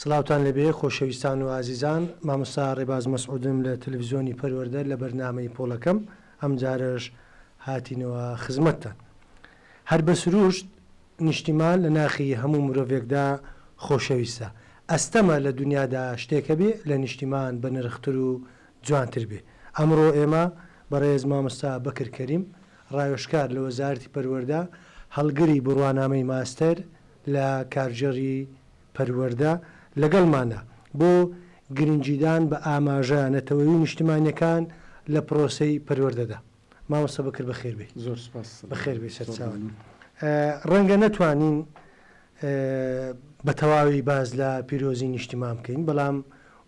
سڵاوتان لەبێ خۆشەویستان و ئازیزان مامۆستا ڕێباز مەسعودم لە تەلەڤزیۆنی پەروەەردە لە بەرنمەی پۆڵەکەم ئەم جارەش هاتینەوە خزمەتتان هەر بە سروشت نیشتیمان لە ناخی هەموو مرۆڤێکدا خۆشەویستە ئەستەمە لە دنیادا شتێکە بێ لە نیشتیمان بە نرختر و جوانتر بێ. ئەمڕۆ ئێمە بەڕێز مامۆستا بەکر کەریم ڕاوێژکار لە وەزارەتی پەروەردە هەڵگری بڕوانامەی ماستەر لە کارگێڕی پەروەردە لەگەڵمانە بۆ گرنگیدان بە ئاماژە نەتەوەیی و نیشتمانیەکان لە پرۆسەی پەروەردەدا. مامۆستا بەکر بەخێر بێی زۆر سپاس بەخێر بێ سەرچاوت ڕەنگە نەتوانین بە تەواوی باز لە پیرۆزی نیشتیمان بکەین بەڵام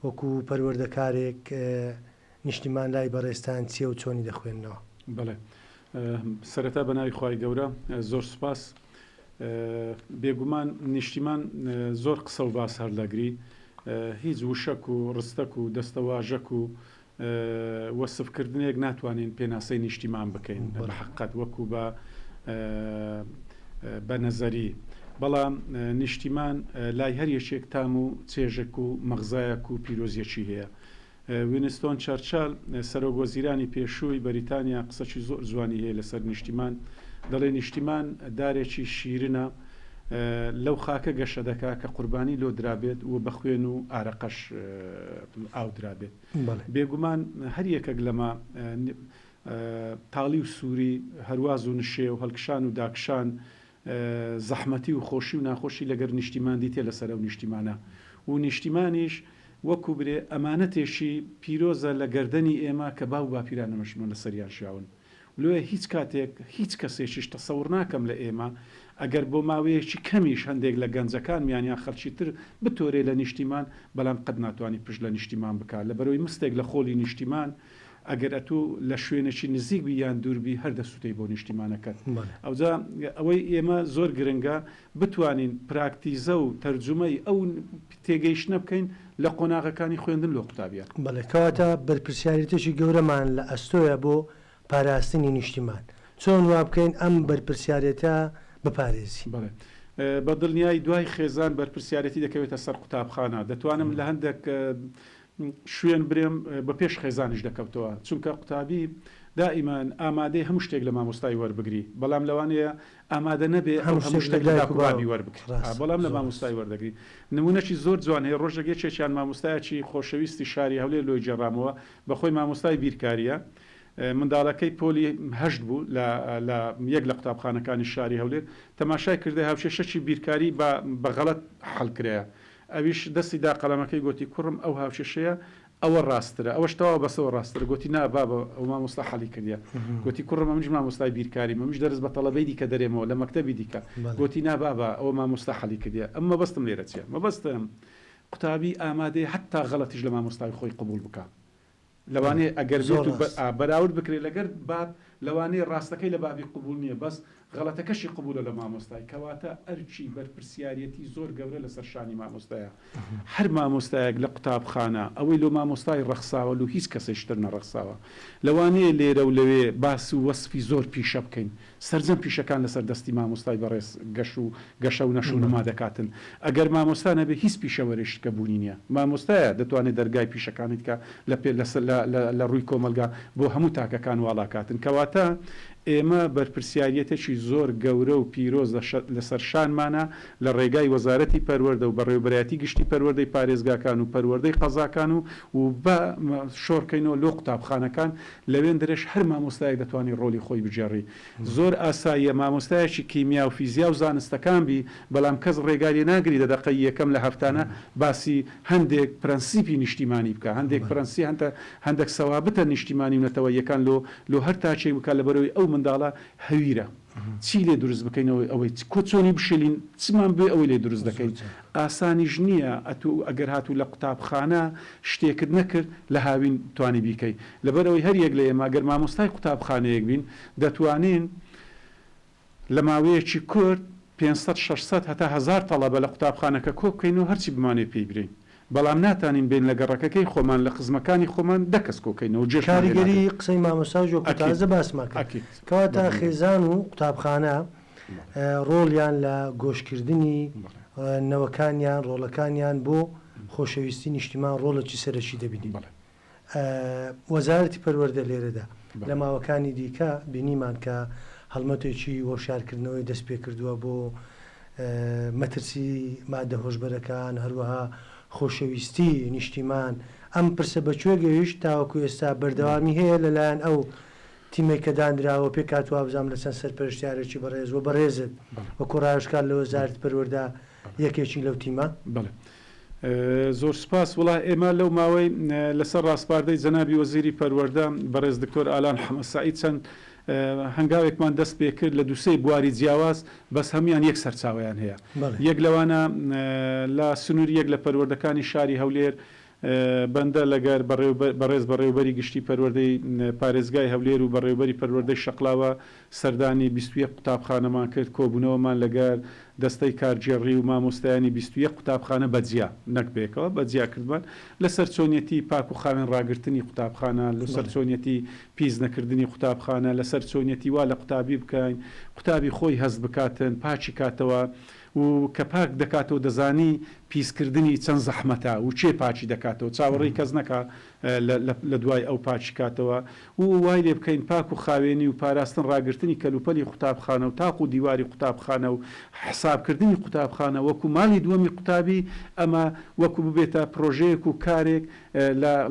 وەکو پەروەردەکارێک نیشتیمان لای بەڕێستان چیە و چۆنی دەخوێندنەوە بڵێ سەرەتا بە ناوی خی گەورە زۆر سپاس بێگومان نیشتیمان زۆر قسە و باس هەر لەگری هیچ وشەک و ڕستەک و دەستەواژەک و وەسف کردنێک ناتوانین پێناسەی نیشتیمان بکەین بە حەققەت وەکو بە بە نەزەری بەڵام نیشتیمان لای هەر یەکێک تام و چێژەک و مەغزایەک و پیرۆزیەکی هەیە وینستۆن چەرچال سەرۆک وەزیرانی پێشووی بەریتانیا قسەکی زۆر جوانی هەیە لەسەر نیشتیمان دەڵێ نیشتیمان دارێکی شیرنە لەو خاکە گەشە دەکا کە قوربانی لۆ درابێت و بە خوێن و ئارەقەش ئاودرابێت بێگومان هەر یەکەک لەمە تاڵی و سووری، هەرواز و نشێو، هەڵکشان و داکشان، زەحمەتی و خۆشی و ناخۆشی لەگەر نیشتیمان دیتیە لەسەر ئەو نیشتیمانە و نیشتیمانیش وەکو برێ ئەمانەتێکی پیرۆزە لە گەردەنی ئێمە کە باو و باپیرانمەشمان لەسەریان ژیاون. لۆیە هیچ کاتێک هیچ کەسێکیش تەسەور ناکەم لە ئێمە ئەگەر بۆ ماوەیەکی کەمیش هەندێک لە گەنجەکانمیان یان خەڵکی تر بتۆرێ لە نیشتیمان بەلام قەت ناتوانی پشت لە نیشتیمان بکا لە بەرۆی مستێک لە خۆلی نیشتیمان ئەگەر ئەتوو لە شوێنێکی نزیک بی یان دوور بی هەر دەسوتێی بۆ نیشتیمانەکەت ئەوجا ئەوەی ئێمە زۆر گرنگە بتوانین پراکتیزە و تەرجومەی ئەو تێگەیشتنە بکەین لە قۆناغەکانی خوێندن لۆ قوتابیان. بەڵێ کەواتە بەرپرسیاریتێکی گەورەمان لە ئەستۆیە بۆ پاراستنی نیشتیمان، چۆن وا بکەین ئەم بەرپرسیارێتە بپارێزین؟ بەڵێ بە دڵنیایی دوای خێزان بەرپرسیارێتی دەکەوێتە سەر قوتابخانە، دەتوانم لە هەندێک شوێن برێم بە پێش خێزانیش دەکەوتەوە چونکە قوتابی دائیمان ئامادەیە هەموو شتێک لە مامۆستای وەربگری بەڵام لەوانەیە ئامادە نەبێ ئەو هەموو شتێک لە دایک و بابی وەربگری بەڵام لە مامۆستای وەردەگری نموونەکی زۆر جوان هەیە ڕۆژێک یەکێکیان مامۆستایەکی خۆشەویستی شاری هەولێر لۆی گێڕامەوە بە خۆی مامۆستای بیرکارییە منداڵەکەی پۆلی هەشت بوو لە لە یەک لە قوتابخانەکانی شاری هەولێر تەماشای کردە هاوکێشەکی بیرکاری بە بە غەڵەت حەڵکرایە ئەویش دەستی دا قەلەمەکەی گۆتی، کوڕم ئەو هاوکێشەیە ئەوە ڕاستترە، ئەوەش تەواو بەسەوە ڕاستترە، گۆتی، نا بابە ئەوە مامۆستا حەلی کردیە، گۆتی، کوڕم ئەمنیش مامۆستای بیرکاریم، ئەمنیش دەرس بە تەڵەبەی دیکە دەرێمەوە لە مەکتەبی دیکە، گۆتی، نا بابە ئەوە مامۆستا حەلی کردیە، ئەم مەبەستم لێرە چیە؟ مەبەستم قوتابی ئامادەیە حەتتا غەڵەتیش لە مامۆستای خۆی قبوڵ بکا، لەوانەیە ئەگەر بێت و بەراورد بکرێت لەگەر باب لەوانەیە ڕاستەکەی لە بابی قبول نیە بەس غەڵەتەکەشی قبولە لە مامۆستای کەواتە ئەرکی بەرپرسیاریەتی زۆر گەورە لەسەر شانی مامۆستایە هەر مامۆستایەک لە قوتابخانە ئەوەی لۆ مامۆستای ڕەخساوە لۆ هیچ کەسێ شتر نەڕەخساوە لەوانەیە لێرەو لەوێ باس و وەسفی زۆر پیشە بکەین سەرجەم پیشەکان لەسەر دەستی مامۆستای بەڕێز گەش و گەشە و نەش و نما دەکاتن. ئەگەر مامۆستا نەبێ هیچ پیشەوەرێشت کە بوونی نیە. مامۆستایە دەتوانێ دەرگای پیشەکانی تکا لە پێ لە ڕووی کۆمەڵگا بۆ هەموو تاکەکان واڵا کاتن. کەواتە ئێمە بەرپرسیاریەتێکی زۆر گەورە و پیرۆز لە سەر شانمانە لە ڕێگای وەزارەتی پەروەردە و بەڕێوبەرایەتی گشتی پەروەردەی پارێزگاکان و پەروەردەی قەزاکان و و بە شۆڕکەینەوە لۆ قوتابخانەکان لەوێندرەش هەر مامۆستایەک دەتوانی ڕۆلی خۆی بگێڕی زۆر ئاساییە مامۆستایەکی کیمیا و فیزیا و زانستەکان بی بەلام کەس ڕێگای لێ ناگری لە دەقەی یەکەم لە هەفتانە باسی هەندێک پرەنسیپی نیشتیمانی بکە هەندێک پرەنسی هەنتە هەندەک سەوابتە نیشتیمانی و نەتەوەییەکان لۆ لۆ هەر تاکێک بکا لەبەرەوەی ئەو منداڵە هەویرە چی لێ دروست بکەینەوە ئەوەی چ کۆ چۆنی بشێلین چمان بوێ ئەوەی لێ دروست دەکەین ئاسانیش نییە ئەتوو ئەگەر هاتوو لە قوتابخانە شتێکت نەکرد لە هاوین توانی بیکەی لەبەر ئەوەی هەر یەک لە ئێمە گەر مامۆستای قوتابخانەیەک بین دەتوانین لە ماوەیەکی کورت پێنج سەد شەش سەد هەتا هەزار تەڵەبە لە قوتابخانەکە کۆ بکەین و هەرچی بمانەوێ پێی برێین بەڵام ناتانین بێین لە گەڕەکەکەی خۆمان لە قزمەکانی خۆمان دە کەس کۆکەینەوە و جێشمان لێ کاریگەری نادەن. قسەی مامۆستا جو کە ئەکید. تازە باسمان کرد. ئەکید. کەواتە بەڵێ. خێزان و قوتابخانە ڕۆڵیان لە گۆشکردنی بەڵێ. نەوەکانیان ڕۆڵەکانیان بۆ خۆشەویستی نیشتیمان ڕۆڵێکی سەرەکی دەبینین. بەڵێ. وەزارەتی پەروەردە لێرەدا لە ماوەکانی دیکە بینیمان کە هەڵمەتێکی وەشارکردنەوەی دەست پێکردووە بۆ مەترسی مادە هۆشبەرەکان هەروەها خۆشەویستی نیشتیمان ئەم پرسە بە کوێ گەیشت تاوەکو ئێستا بەردەوامی هەیە لەلایەن ئەو تیمەی کە دانراوە پێ کات وابزانام لە چەند سەرپەرشتیارێکی بەڕێز و بەڕێزت وەکو ڕاوشکار لە وەزارت پەروەردا یەکێکی لەو تیمە بڵێ. زۆر سوپاس، وەڵا ئێمە لەو ماوەی لەسەر ڕاسپاردەی جەنابی وەزیری پەروەردە بەڕێز دکتۆر ئالان حەمە سەعید چەند هەنگاوێکمان دەست پێ کرد لە دوو سێ بواری جیاواز بەس هەموویان یەک سەرچاوەیان هەیە یەک لەوانە لە سنووری یەک لە پەروەردەکانی شاری هەولێر بەندە لەگەر بەڕێز بەڕێوبەری گشتی پەروەردەی پارێزگای هەولێر و بەڕێوبەری پەروەردەی شەقڵاوە سەردانی بیست و یەک قوتابخانەمان کرد، کۆبوونەوەمان لەگەر دەستەی کارگێڕی و مامۆستایانی بیست و یەک قوتابخانە بە جیا، نەک بەیەکەوە، بە جیا کردمان، لەسەر چۆنیەتی پاک و خاوێن ڕاگرتنی قوتابخانە، لەسەر چۆنیەتی پیس نەکردنی قوتابخانە، لەسەر چۆنیەتی وا لە قوتابی بکەین قوتابی خۆی هەست بکاتن پاکی کاتەوە و کە پاک دەکاتەوە دەزانی پیس کردنی چەند زەحمەتە و کێ پاکی دەکاتەوە چاوەڕێی کەس نەکا لە دوای ئەو پاکی کاتەوە و وای لێ بکەین پاک و خاوێنی و پاراستن ڕاگرتنی کەلوپەلی قوتابخانە و تاق و دیواری قوتابخانە و حساب کردنی قوتابخانە وەکو ماڵی دووەمی قوتابی ئەمە وەکو ببێتە پرۆژەیەک و کارێک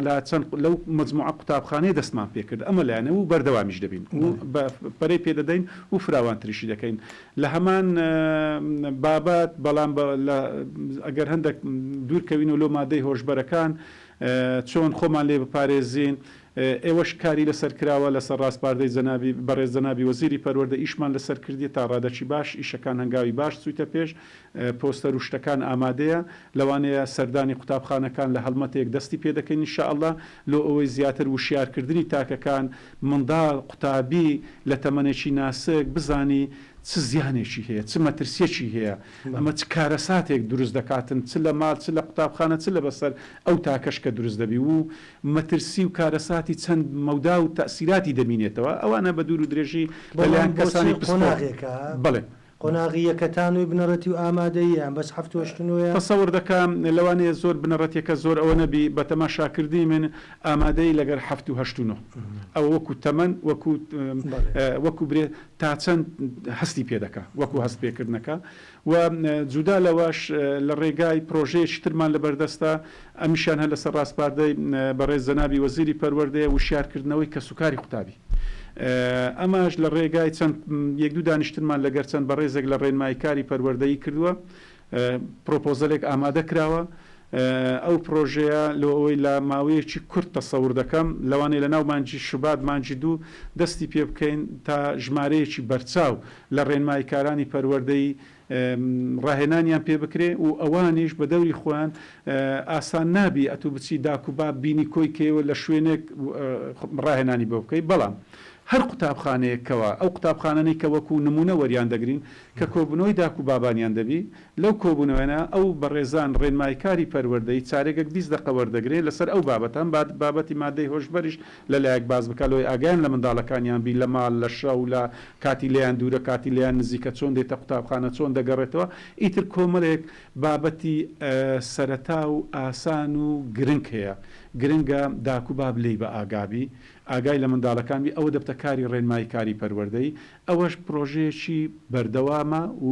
لە چەند لەو مەجموعە قوتابخانەیە دەستمان پێ کرد ئەمە لایەنە و بەردەوامیش دەبین و پەرەی پێ دەدەین و فراوانتریشی دەکەین لە هەمان بابەت بەڵام لە ئەگەر هەندەک دوور کەوینەوە لۆ مادەی هۆشبەرەکان چۆن خۆمان لێ بپارێزین؟ ئێوەش کاری لەسەر کراوە لەسەر ڕاسپاردەی جەنابی بەڕێز جەنابی وەزیری پەروەردە ئیشمان لەسەر کردیە تا ڕادەکی باش ئیشەکان هەنگاوی باش چویتە پێش پۆستەر و شتەکان ئامادەیە لەوانەیە سەردانی قوتابخانەکان لە هەڵمەتێک دەستی پێ دەکەین ان شاءاللە لۆ ئەوەی زیاتر وشیار کردنی تاکەکان منداڵ قوتابی لە تەمەنێکی ناسک بزانی چ زیانێکی هەیە چ مەترسیەکی هەیە ئەمە چ کارەساتێک دروست دەکاتن چ لە مال چ لە قوتابخانە چ لە بەسەر ئەو تاکەش کە دروست دەبی و مەترسی و کارەساتی چەند مەودا و تەئسیراتی دەمینێتەوە ئەوانە بە دوور و درێژی لە لایەن کەسانی پسپۆر بەڵێ. قۆناغی یەکە تا نۆی بنەڕەتی و ئامادەییە بەس حەفت و هەشت نۆیە. تەسەور دەکا لەوانەیە زۆر بنەڕەتیەکە زۆر ئەوە نەبی بە تەماشا کردنی من ئامادەیی لەگەر حەفت و هەشت و نۆ ئەوە وەکو تەمەن وەکو وەکو برێ تا چەند هەستی پێ دەکا وەکو هەست پێ کردنەکە و جودا لەوەش لە ڕێگای پرۆژەیەکی ترمان لە بەردەستە ئەمیشیان هەر لەسەر ڕاسپاردەی بەڕێز جەنابی وەزیری پەروەردەیە وشیار کردنەوەی کەس و کاری قوتابی ئەماش لە ڕێگای چەند یەک دوو دانیشتنمان لەگەر چەند بەڕێزێک لە ڕێنماییکاری پەروەردەیی کردوە پرۆپۆزەلێک ئامادە کراوە، ئەو پرۆژەیە لۆ ئەوەی لە ماوەیەکی کورت تەسەور دەکەم، لەوانەیە لە ناو مانگی شوبات، مانگی دوو دەستی پێ بکەین تا ژمارەیەکی بەرچاو لە ڕێنماییکارانی پەروەردەیی ڕاهێنانیان پێ بکرێ و ئەوانیش بە دەوری خۆیان ئاسان نابی ئەتوو بچی داک و باب بینی کۆی کەی و لە شوێنێک ڕاهێنانی بۆ بکەی بەڵام هەر قوتابخانەیەک کەوا ئەو قوتابخانانەی کە وەکوو نموونە وەریان دەگرین کە کۆبوونەوەی داک و بابانیان دەبی، لەو کۆبوونەوەیانە ئەو بەڕێزان ڕێنمایکاری پەروەردەی چارێگەک بیست دەقە وەردەگرێ لەسەر ئەو بابەتە، ئەم بابەتی مادەی هۆشبەریش لە لایەک باس بکا لۆی ئاگایان لە منداڵەکانیان بی لە ماڵ لە شەو لە کاتی لێیان دوورە کاتی لێیان نزیکە چۆن دێتە قوتابخانە چۆن دەگەڕێتەوە ئیتر کۆمەڵێک بابەتی سەرەتا و ئاسان و گرنگ هەیە گرنگە داک و باب لێی بە ئاگابی ئاگای لە منداڵەکان بی ئەوە دەبتە کاری ڕێنمایکاری پەروەردەی ئەوەش پرۆژەیەکی بەردەوامە و.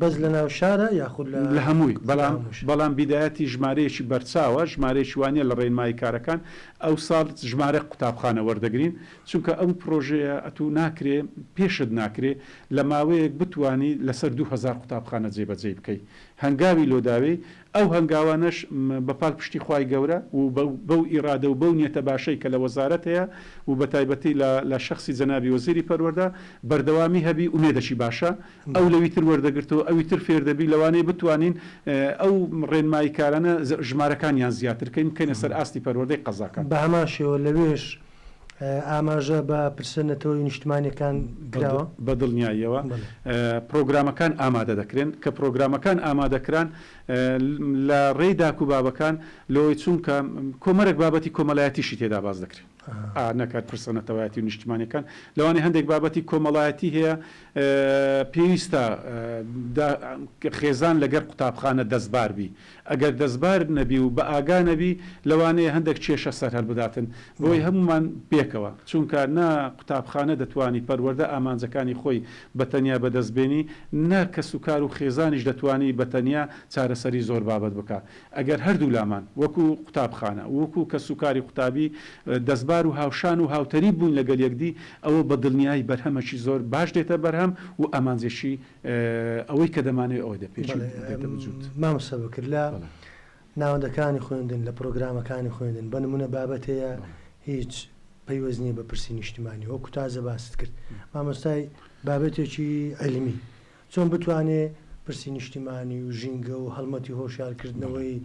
بەس لە ناو شارە یاخود لە. لە هەمووی، بەڵام بەڵام بیدایەتی ژمارەیەکی بەرچاوە، ژمارەیەکی وا نییە لە ڕێنمایی کارەکان ئەوساڵ ژمارە قوتابخانە وەردەگرین، چونکە ئەو پرۆژەیە ئەتوو ناکرێ پێشت ناکرێ لە ماوەیەک بتوانی لەسەر دوو هەزار قوتابخانە جێبەجێی بکەی، هەنگاوی لۆ داوێی، ئەو هەنگاوانەش بە پالپشتی خوای گەورە و بەو ئیرادە و بەو نیەتە باشەی کە لە وەزارەت هەیە و بە تایبەتی لە لە شەخسی جەنابی وەزیری پەروەردە بەردەوامی هەبی ئومێدەکی باشە ئەو لەوی تر وەردەگرتەوە ئەوی تر فێر دەبی لەوانەیە بتوانین ئەو ڕێنماییکارانە ژمارەکانیان زیاتر کەین بکەینە سەر ئاستی پەروەردەی قەزاکان. بە هەمان شێوە لەوێش ئاماژە بە پرسە نەتەوەیی و نیشتمانییەکان کراوە؟ بە دڵنیاییەوە پرۆگرامەکان ئامادە دەکرێن، کە پرۆگرامەکان ئامادە کران لە ڕێی داک و بابەکان لەوەی چونکە کۆمەرەک بابەتی کۆمەلایەتیشی تێدا باس دەکرێ ئا نەکەر پرسە نەتەوایەتی و نیشتمانیەکان لەوانەیە هەندێک بابەتی کۆمەڵایەتی هەیە پێویستە خێزان لەگەر قوتابخانە دەستبار بی ئەگەر دەستبارد نەبی و بە ئاگا نەبی لەوانەیە هەندەک کێشە سەر هەلبداتن بۆی هەموومان پێکەوە چوونکە نە قوتابخانە دەتوانی پەروەردە ئامانجەکانی خۆی بە تەنیا بە دەست بێنی نە کەس و کار و خێزانیش دەتوانی بە تەنیا چارەسەری زۆر بابەت بکا ئەگەر هەردوو لامان وەکو قوتابخانە ووکو کەس و کاری قوتابی دەستبار و هاوشان و هاوتەریب بووین لەگەل یەکدی ئەوە بە دلنیایی بەرهەمەکی زۆر باش دێتە بەرهەم و ئامانجێکی ئەوەی کە دەمانەوێت ئەوە دەپێچین و دێتە وجود. مامۆستا بەکر لە ناوەندەکانی خوێندن لە پرۆگرامەکانی خوێندن بە نموونە بابەت هەیە هیچ پەیوەست نییە بە پرسی نیشتمانی وەکو تازە باست کرد مامۆستای بابەتێکی عیلمی چۆن بتوانێ پرسی نیشتمانی و ژینگە و هەڵمەتی هۆشیارکردنەوەی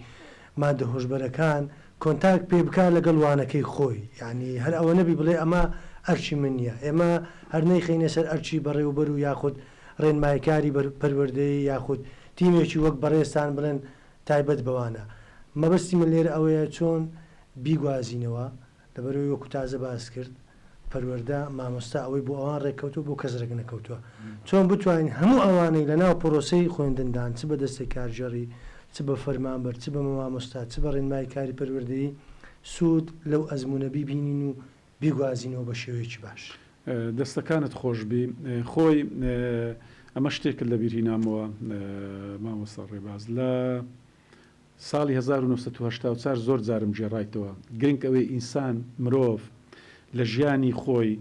مادە هۆشبەرەکان کۆنتاکت پێ بکا لەگەڵ وانەکەی خۆی یانی هەر ئەوە نەبی بڵێ ئەمە ئەرکی من نیە ئێمە هەر نەیخەینە سەر ئەرکی بەڕێوەبەر و یاخود ڕێنمایکاری بەر پەروەردەیی یاخود تیمێکی وەک بەڕێزتان بڵێن تایبەت بەوانە مەبەستی من لێرە ئەوەیە چۆن بیگوازینەوە لەبەرئەوەی وەکو تازە باست کرد پەروەردە مامۆستا ئەوەی بۆ ئەوان ڕێککەوتوە بۆ کەس ڕێک نەکەوتوە چۆن بتوانین هەموو ئەوانەی لەناو پرۆسەی خوێندندان چ بە دەستەی کارگێڕی چ بە فەرمانبەر چ بە مامۆستا چ بە ڕێنمای کاری پەروەردەیی سود لەو ئەزمونە بیبینین و بیگوازینەوە بە شێوەیەکی باش. دەستەکانت خۆشبی خۆی ئەمە شتێکت لەبیرهینامەوە مامۆستا ڕێباز لە. ساڵی هەزار و نۆ سەد و هەشتا و چوار زۆر جارم گێڕایتەوە، گرنک ئەوەی ئینسان، مرۆڤ، لە ژیانی خۆی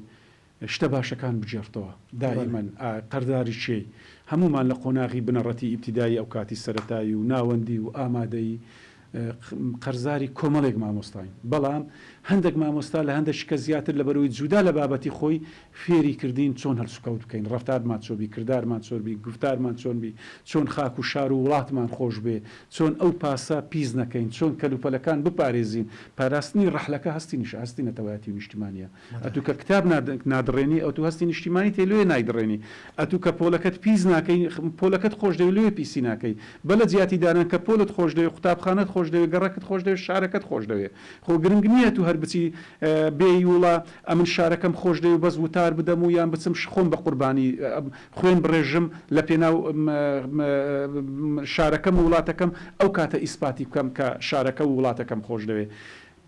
شتە باشەکان بگێڕتەوە، دائیمەن ئا قەرداری کێی؟ هەموومان لە قۆناغی بنەڕەتی ئیبتیدایی ئەوکاتی سەرەتایی و ناوەندی و ئامادەیی ق قەرزاری کۆمەڵێک مامۆستاین، بەڵام هەندەک مامۆستا لە هەندەک شکە زیاتر لەبەرئەوەی جودا لە بابەتی خۆی فێری کردین چۆن هەلسوکەوت بکەین، ڕەفتارمان چۆن بی، کردارمان چۆن بی، گوفتارمان چۆن بی، چۆن خاک و شار و وڵاتمان خۆش بێ، چۆن ئەو پاسە پیس نەکەین، چۆن کەلوپەلەکان بپارێزین، پاراستنی ڕەحلەکە هەستی نیشە هەستی نەتەوایەتی و نیشتیمانیە، ئەتوو کە کتاب نا نادڕێنی ئەتوو هەستی نیشتیمانیت هەیە لۆیێ نایدڕێنی، ئەتوو کە پۆلەکەت پیس ناکەی پۆلەکەت خۆش دەوێ لۆیێ پیسی ناکەی، بە لە جیاتی دانان کە پۆلت خۆش دەوێ، قوتابخانەت خۆش دەوێ، گەڕەکت خۆش دەوێ، شارەکەت خۆش دەوێ. خۆ گرنگ نیە تو هەر بچی بێی وڵا ئەمن شارەکەم خۆش دەوێ بەس وتار بدەم و یان بچم خۆم بە قوربانی خوێن بڕێژم لە پێناو شارەکەم و وڵاتەکەم ئەو کاتە ئیسپاتی بکەم کە شارەکە و وڵاتەکەم خۆش دەوێ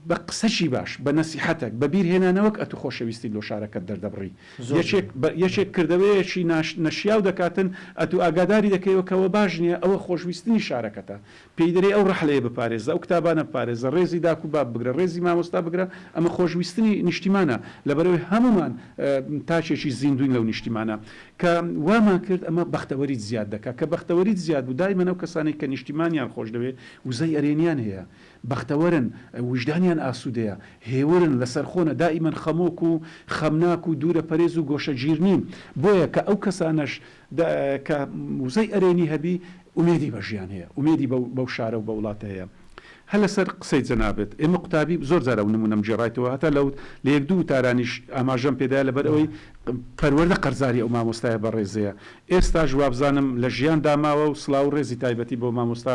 بە قسەکی باش بە نەسیحەتەک بە بیر هێنانەوەک ئەتو خۆشەویستیت لۆ شارەکەت دەردەبڕی یەکێک یەکێک کردەوەیەکی ناشت نەشیاو دەکاتن ئەتو ئاگاداری دەکەیەوە کەوە باش نیە ئەوە خۆشویستنی شارەکەتە پێی دەرێی ئەو ڕەحلەیە بپارێزە، ئەو کتابانە بپارێزە، ڕێزی داک و باب بگرە، ڕێزی مامۆستا بگرە، ئەمە خۆشویستنی نیشتیمانە، لەبەرئەوەی هەموومان تاکێکی زیندووین لەو نیشتیمانە، کە وامان کرد ئەمە بەختەوەریت زیاد دەکات، کە بەختەوەریت زیاد بوو، دایمەن ئەو کەسانەی کە نیشتیمانیان خۆشدەوێت وزەی ئەرێنیان هەیە، بەختەوەرن، ویژدانیان ئاسوودەیە، هێورن، لەسەرخۆنە، دائیمەن خەمۆک و خەمناک و دوورەپەرێز و گۆشەگیرنین، بۆیە کە ئەو کەسانەش دە کە وزەی ئەرێنی هەبی ئومێدی بە ژیان هەیە ئومێدی بەو بەو شارە و بە وڵاتە هەیە هە لە سەر قسەی جەنابت ئێمە قوتابی زۆر جار ئەو نموونەم گێڕایتەوە هەتا لە لە یەک دوو وتارانیش ئاماژەم پێ دایە لە بەر ئەوەی پەروەردە قەرزاری ئەو مامۆستایە بەڕێزەیە ئێستاش وابزانم لە ژیان دا ماوە و سڵاو و ڕێزی تایبەتی بۆ مامۆستا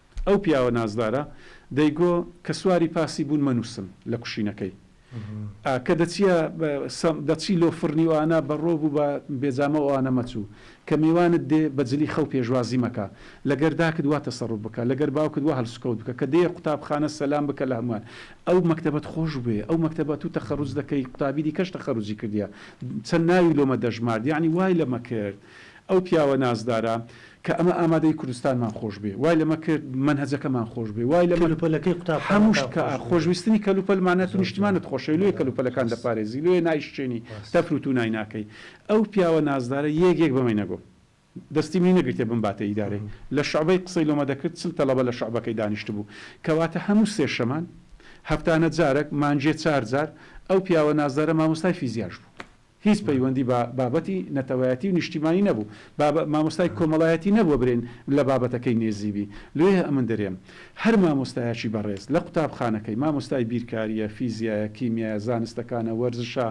ئەو پیاوە نازدارە دەیگۆ کە سواری پاسی بوون مەنووسن لە کوشینەکەی ئا کە دەچیە بە سە دەچی لۆ فڕنی و ئانا بە ڕۆب و بە بێجامە و ئانا مەچوو کە میوانت دێ بە جلی خەو پێشوازی مەکە لە گەر داکت وا تەسەڕوف بکە لە گەر باوکت وا هەلسوکەوت بکە کە دێیە قوتابخانە سەلام بکە لە هەموان ئەو مەکتەبەت خۆش بوێ ئەو مەکتەبە تو تەخەروج دەکەی قوتابی دیکەش تەخەروجی کردیە چەند ناوی لۆمە دەژمارد یانی وای لەمە کرد ئەو پیاوە نازدارە کە ئەمە ئامادەی کوردستانمان خۆشبێ وای لەمە کرد مەنهەجەکەمان خۆشبێ وای لەمە کەلو پەلەکەی قوتابخانەکان خۆشبێ هەموو شتئ خۆشویستنی کەلو پەل مانە تو نیشتمانت خۆشەوێ لۆیە کەلو پەلەکان دەپارێزی لۆیە نایشچێنی تەفرو تو نای ناکەی ئەو پیاوە نازدارە یەک یەک بەمەی نەگۆم دەستی منی نەگرتێ بمباتە ئیدارەی لە شوعبەی قسەی لۆمە دەکرد چل تەڵەبە لە شوعبەکەی دانیشتبوو کەواتە هەموو سێ شەمان هەفتانە جارەک مانجێ چار جار ئەو پیاوە نازدارە مامۆستای فیزیاش بوو هیچ پەیوەندی بە بابەتی نەتەوایەتی و نیشتیمانی نەبوو. با مامۆستای کۆمەڵایەتی نەبووە برێن لە بابەتەکەی نێزیبی. لێ ئەمن درێم. هەر مامۆستایەکی بەڕێز لە قوتابخانەکەی، مامۆستای بیرکارییە، فیزیایە، کیمیایە، زانستەکانە، وەرزشە،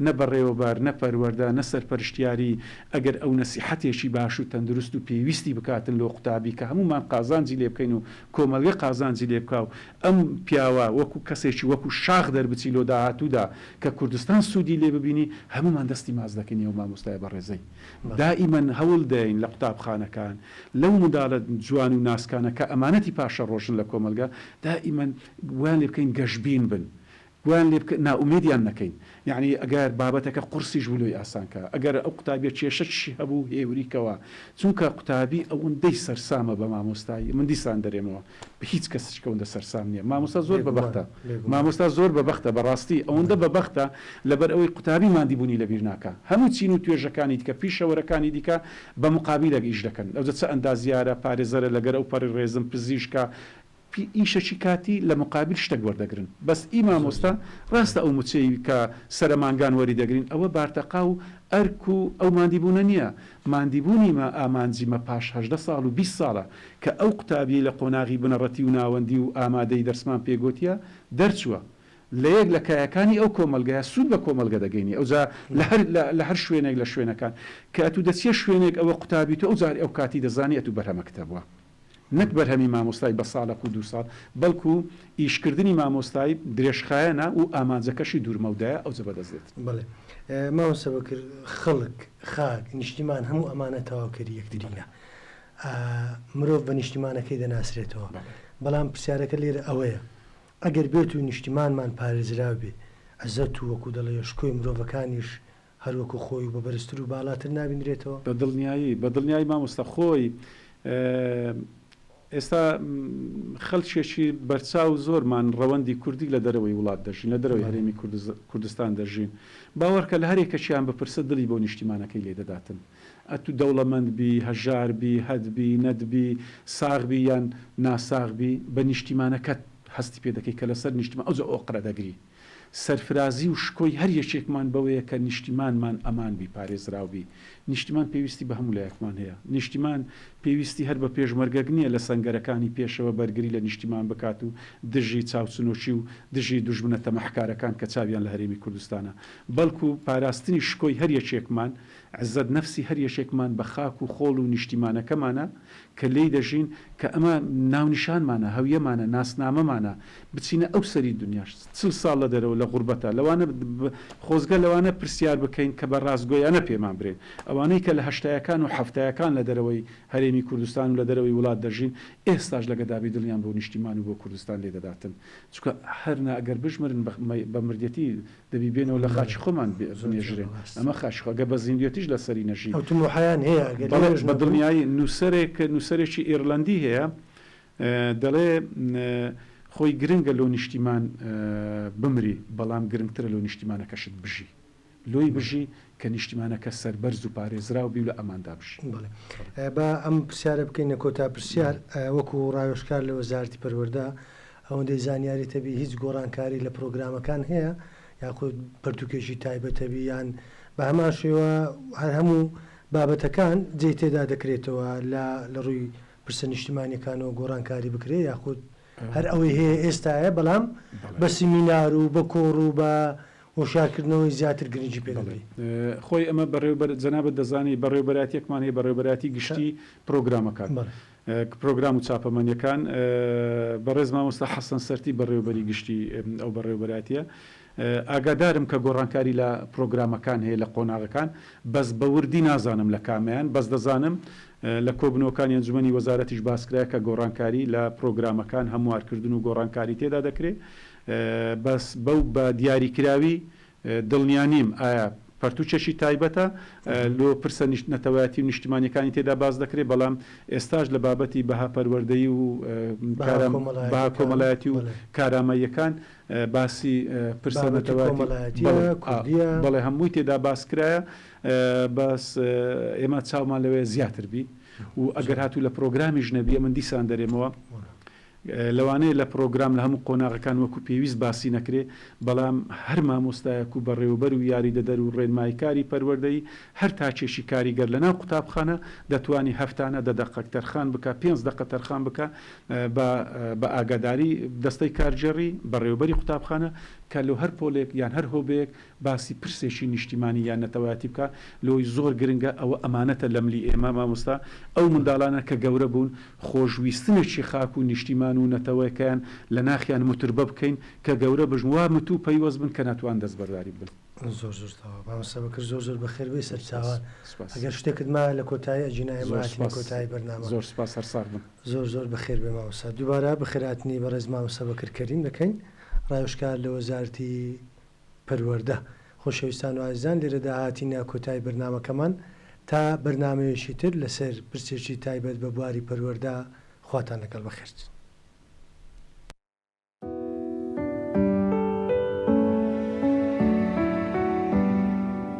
نە بەڕێوەبەر، نە پەروەردە، نە سەرپەرشتیاری، ئەگەر ئەو نەسیحەتێکی باش و تەندروست و پێویستی بکاتن لۆ قوتابی کە هەموومان قازانجی لێ بکەین و کۆمەلگە قازانجی لێ بکا و ئەم پیاوە وەکو کەسێکی وەکو شاخ دەربچی لۆ داهاتوودا کە کوردستان سوودی لێ ببینی هەموومان دەستی ماچ دەکەین ئێوە مامۆستای بەڕێزەی دائیمەن هەوڵ دەین لە قوتابخانەکان لەو مندالە جوان و ناسکانە کە ئەمانەتی پاشەڕۆژن لە کۆمەڵگە دائیمەن وایان لێ بکەین گەشبین بن بۆیان لێ بکە نائومێدیان نەکەین یەعنی ئەگەر بابەتەکە قورسیش بوو لۆی ئاسان کە ئەگەر ئەو قوتابیە کێشەکشی هەبوو هێوری کەوە چونکە قوتابی ئەوەندەی سەرسامە بە مامۆستای من دیسان دەرێمەوە بە هیچ کەسچکە وەندە سەرسام نیە مامۆستا زۆر بە بەختە مامۆستا زۆر بە بەختە بەڕاستی ئەوەندە بە بەختە لەبەر ئەوەی قوتابی ماندی بونی لە بیر ناکا هەموو چین و توێژەکانی دیکە پیشەوەرەکانی دیکە بە مقابیلەک ئیش دەکەن ئەوجە چ ئەندازیارە پارێزەرە لەگەر ئەو پەڕی ڕێزم پزیشکە پی ئیشەکی کاتی لە مقابیل شتەک وەردەگرن بەس ئی مامۆستا ڕاستە ئەو مچەی کە سەرە مانگان وەری دەگرین ئەوە بارتەقا و ئەرک و ئەو ماندی بوونە نیە ماندی بوونی مە ئامانجی مە پاش هەژدە ساڵ و بیست ساڵە کە ئەو قوتابیەی لە قۆناغی بنەڕەتی و ناوەندی و ئامادەی دەرسمان پێ گۆتیە دەرچوە لە یەک لە کایەکانی ئەو کۆمەڵگەیە سوود بە کۆمەڵگە دەگەینی ئەوجا لە هەر لە هەر شوێنێک لە شوێنەکان کە ئەتوو دەچیە شوێنێک ئەوە قوتابی تو ئەوجار ئەو کاتی دەزانی ئەتوو بەرهەمەکتە بوە نەک بەرهەمی مامۆستای بە ساڵەک و دوو ساڵ، بەڵکو ئیشکردنی مامۆستای درێژخایەنە و ئامانجەکەشی دوورمەودایە، ئەوجە بەدەست دێت. بەڵێ مامۆستا بەکر، خەڵک، خاک، نیشتیمان هەموو ئەمانە تەواوکەری یەکترینە. مرۆڤ بە نیشتیمانەکەی دەناسرێتەوە. بەڵام پرسیارەکە لێرە ئەوەیە، ئەگەر بێتوو نیشتیمانمان پارێزراو بێ، عزەت و وەکو دەڵێ شکۆی مرۆڤەکانیش هەر وەکو خۆی و بە بەرزتر و بالاتر نابینرێتەوە. بە دڵنیایی، بە دڵنیایی مامۆستا خۆی ئێستا خەلکێکی بەرچاو زۆرمان ڕەوەندی کوردی لە دەرەوەی وڵات دەژین، لە دەرەوەی هەرێمی کوردستان دەژین، باوەڕکە لە هەر یەکەکیان بپرسە دڵی بۆ نیشتیمانەکەی لێ دەداتن، ئەتوو دەوڵەمەند بی، هەژار بی، هەت بی، نەت بی، ساغ بی یان ناساغ بی، بە نیشتیمانەکەت هەستی پێ دەکەی کە لەسەر نیشتیمان ئەوجا ئۆقرە دەگری. سەرفرازی و شکۆی هەر یەکێکمان بەوەیە کە نیشتیمانمان ئەمان بی، پارێزراو بی. نیشتیمان پێویستی بە هەموو لایەکمان هەیە. نیشتیمان پێویستی هەر بە پێشمەرگەک نییە لە سەنگەرەکانی پێشەوە بەرگری لە نیشتیمان بکات و دژی چاوچنۆکی و دژی دوژمنە تەماحکارەکان کە چاویان لە هەرێمی کوردستانە. بەڵکو پاراستنی شکۆی هەر یەکێکمان، عزەت نەفسی هەر یەکێکمان بە خاک و خۆڵ و نیشتیمانەکەمانە. کە لێی دەژین، کە ئەمە ناونیشانمانە، هەویەمانە، ناسنامەمانە، بچینە ئەو سەری دونیاش، چل ساڵ لە دەرەوە لە غوربەتە، لەوانە خۆزگە لەوانە پرسیار بکەین کە بە راستگۆیانە پێمان برێن، ئەوانەی کە لە هەشتایەکان و حەفتایەکان لە دەرەوەی هەرێمی کوردستان و لە دەرەوەی وڵات دەژین، ئێستاش لە گەدابی دڵیان بۆ نیشتیمان و بۆ کوردستان لێدەداتن، چونکە هەر نا ئەگەر بژمرن بە مردیەتی دەبی بێنەوە لە خاکی خۆمان بنێژرێن ئەمە خاکی خۆ ئەگەر بە زیندوێتیش لەسەری نەژی. ئەو تموحەیان هەیە ئەگەر بەڵێ لێرەش بە نەبن. دڵنیایی نووسەرێک نووسەرێکی ئێرلەندی هەیە دەڵێ خۆی گرنگە لۆ نیشتیمان بمری بەڵام گرنگترە لۆ نیشتیمانەکەشت بژی لۆی بژی کە نیشتیمانەکە سەربەرز و پارێزراو بی و لە ئەماندا بژی. بەڵێ با ئەم پرسیارە بکەینە کۆتا پرسیار وەکو ڕاوێژکار لە وەزارەتی پەروەردە ئەوەندەی زانیاریت هەبی هیچ گۆڕانکاری لە پرۆگرامەکان هەیە یاخود پەرتوکێکی تایبەت هەبی یان بە هەمان شێوە هەر هەموو بابەتەکان جێی تێدا دەکرێتەوە لە لە ڕووی پرسە نیشتمانیەکانەوە گۆڕانکاری بکرێ یاخود هەر ئەوەی هەیە ئێستاە بەڵام بە سیمینار و بە کۆڕ و بە هۆشارکردنەوەی زیاتر گرنگی پێ خۆی ئەمە بەڕێوبەر جەنابەت دەزانی بەڕێوبەراتیەکمان هەیە بەڕێوبەراتی گشتی پرۆگرامەکان پرۆگرام و چاپەمەنیەکان بەڕێز مامۆستا حەسەن سەرتی بەڕێوەبەری گشتی ئەو بەڕێوەبەرایەتیە ئاگادارم کە گۆڕانکاری لە پرۆگرامەکان هەیە لە قۆناغەکان بەس بە وردی نازانم لە کامەیان بەس دەزانم لە کۆبنەوەکانی ئەنجومەنی وەزارەتیش باسکرایە کە گۆڕانکاری لە پرۆگرامەکان هەموارکردن و گۆڕانکاری تێدا دەکرێ بەس بەو بە دیاریکراوی دڵنیا نیم ئایا پەرتووکێکی تایبەتە لۆ پرسە نەتەوایەتی و نیشتیمانیەکانی تێدا باس دەکرێت بەڵام ئێستاش لە بابەتی بەها پەروەردەیی و بەها کۆمەلایەتی و کارامەییەکان باسی پرسە نەتەوایەتی بەڵێ هەمووی تێدا باس کرایە بەس ئێمە چاومان لەوەیە زیاتر بی و ئەگەر هاتوو لە پرۆگرامیش نەبی ئەمن دیسان دەرێمەوە لەوانەیە لە پڕۆگرام لە هەموو قۆناغەکان وەکو پێویست باسی نەکرێ، بەڵام هەر مامۆستایەک و بەڕێوەبەر و یاریدەدەر و ڕێنماییکاری پەروەردەیی هەر تاکێکی کاریگەر لەناو قوتابخانە دەتوانی هەفتانە دە دەقەک تەرخان بکا، پێنج دەقە تەرخان بکا بە بە ئاگاداری دەستەی کارگێڕی، بەڕێوەبەری قوتابخانە، کە لۆ هەر پۆلێک یان هەر هۆبەیەک باسی پرسێکی نیشتیمانی یان نەتەوایەتی بکا لۆی زۆر گرنگە، ئەوە ئەمانەتە لە ملی ئێمە مامۆستا ئەو منداڵانە کە گەورە بوون خۆشویستنێکی خاک و نیشتیمان و نەتەوەکەیان لە ناخیان متربە بکەین کە گەورە بژن وا متوو پەیوەست بن کە ناتوان دەستبەرداری بن. زۆر زۆر سپاس مامۆستا بەکر زۆر زۆر بەخێر بێی سەرچاوان ئەگەر شتێکت مایە لە کۆتایی ئەجینا ئێمە هاتینە کۆتایی بەرنامە زۆر سپاس هەر ساغ بن زۆر زۆر بەخێر بێ مامۆستا دووبارە بەخێرهاتنی بەڕێز مامۆستا بەکر کەریم دەکەین ڕاوێژکار لە وەزارەتی پەروەردە. خۆشەویستان و ئازیزان لێرەدا هاتینە کۆتایی بەرنامەکەمان، تا بەرنامەیەکی تر لەسەر پرسێکی تایبەت بە بواری پەروەردە، خواتان لەگەڵ بەخێرچن.